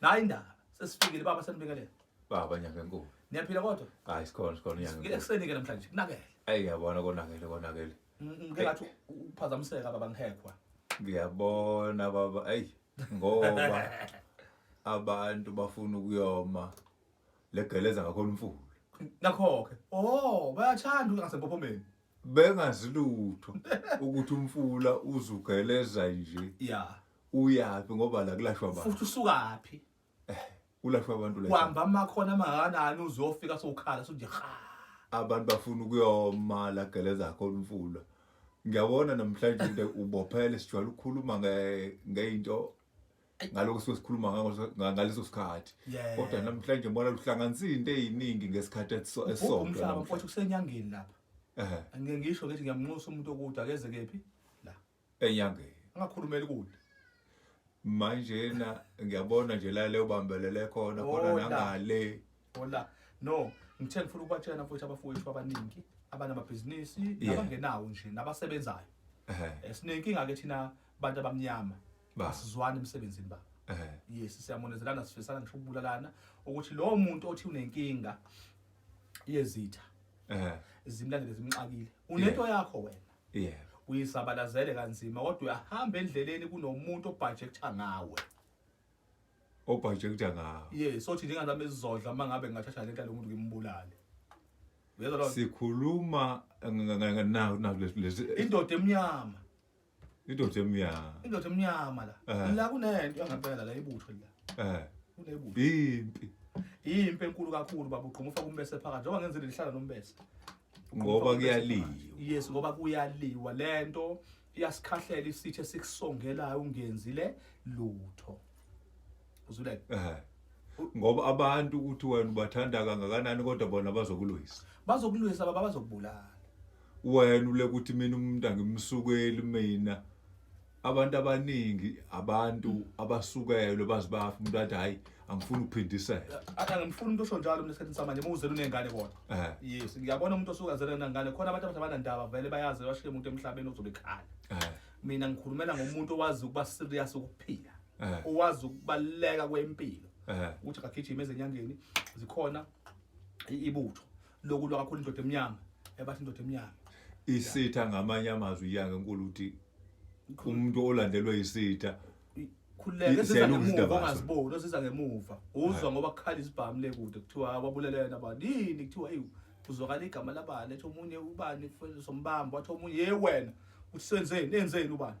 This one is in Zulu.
Nayi indaba sesifikile baba senibingelela. Baba nyanga enkulu. Niyaphila kodwa? Hayi sikhona sikhona nyanga. Ngike kuseni ke namhlanje kunakele. Ayi yabona konakele konakele. Mm, mm, ngike ngathi uphazamiseka baba ngihekwa. Ngiyabona baba ayi ngoba abantu bafuna ukuyoma legeleza ngakhona umfula. Nakho-ke. Oh, bayathanda ukungasempophomeni. Bengazi lutho ukuthi umfula uzugeleza nje. Yeah. uyaphi ngoba la kulashwa abantu futhi usukaphi eh, kulashwa abantu la uhamba amakhona amakanani uzofika sokhala sonje ha abantu bafuna ukuyomala gele zakho umfula ngiyabona namhlanje into ubophele sijwayele ukukhuluma ngeinto ngaloko suke sikhuluma ngaleso sikhathi kodwa namhlanje mbona luhlanganisa into eziningi ngesikhathi esisodwa umhlaba mfowethu kusenyangeni lapha ngeke ngisho ngithi ngiyamnxusa umuntu okude akeze kephi enyangeni angakhulumeli kude manjena ngiyabona nje la leyo bambelele khona khona nangale hola no ngithe ngifuna ukubatshena futhi abafowethu abaningi abanamabhizinisi nabangenawo nje nabasebenzayo eh, sinenkinga-ke thina bantu abamnyama asizwani emsebenzini baba yes siyamonezelana sifisana ngisho ukubulalana ukuthi lowo muntu othi unenkinga yezitha zimlandele zimxakile unento yakho wena yebo uyisabalazele kanzima kodwa uyahamba endleleni kunomuntu obhajektha ngawe obhajektha ngawe yes othi njengazami ezizodla uma ngabe ngingathatha lento lomuntu ngimbulale uyezwa lo sikhuluma na na lesi indoda emnyama indoda emnyama indoda emnyama la Eh. la kunento yangempela la ibutho la eh kunebutho impi impi enkulu kakhulu baba ugquma ufaka umbese phakathi njengoba ngenzile lihlala nombese ngoba kuyaliwa yes ngoba kuyaliwa lento iyasikhahlela isithe sikusongelayo ungenzile lutho uzula eh ngoba abantu ukuthi wena ubathanda kangakanani kodwa bona bazokulwisa bazokulwisa baba bazokubulala wena ule ukuthi mina umuntu angimsukeli mina abantu abaningi abantu abasukelwe bazi bafa umuntu athi hayi angifuni ukuphindisela angimfuni umuntu osho njalo mina esikhathini samanje uma uzele unengane kona eh. yes ngiyabona umuntu osuke azele unengane khona abantu abantu abanandaba vele bayazi bashiye umuntu emhlabeni ozobe ekhala eh. mina ngikhulumela ngomuntu owazi ukuba serious ukuphila eh. owazi ukubaluleka kwempilo ukuthi kagijima ezenyangeni zikhona ibutho lokulwa kakhulu indoda emnyama ebathi indoda emnyama isitha ngamanye amazwi iyange enkulu ukuthi umuntu olandelwe isitha khululeke siza ngemuva ongaziboni osiza ngemuva uzwa ngoba kukhala isibhamu le kude kuthiwa kwabulelena abanini kuthiwa eyi kuzwakala igama labani ethi omunye ubani sombamba wathi omunye ye wena uthi senzeni enzeni ubani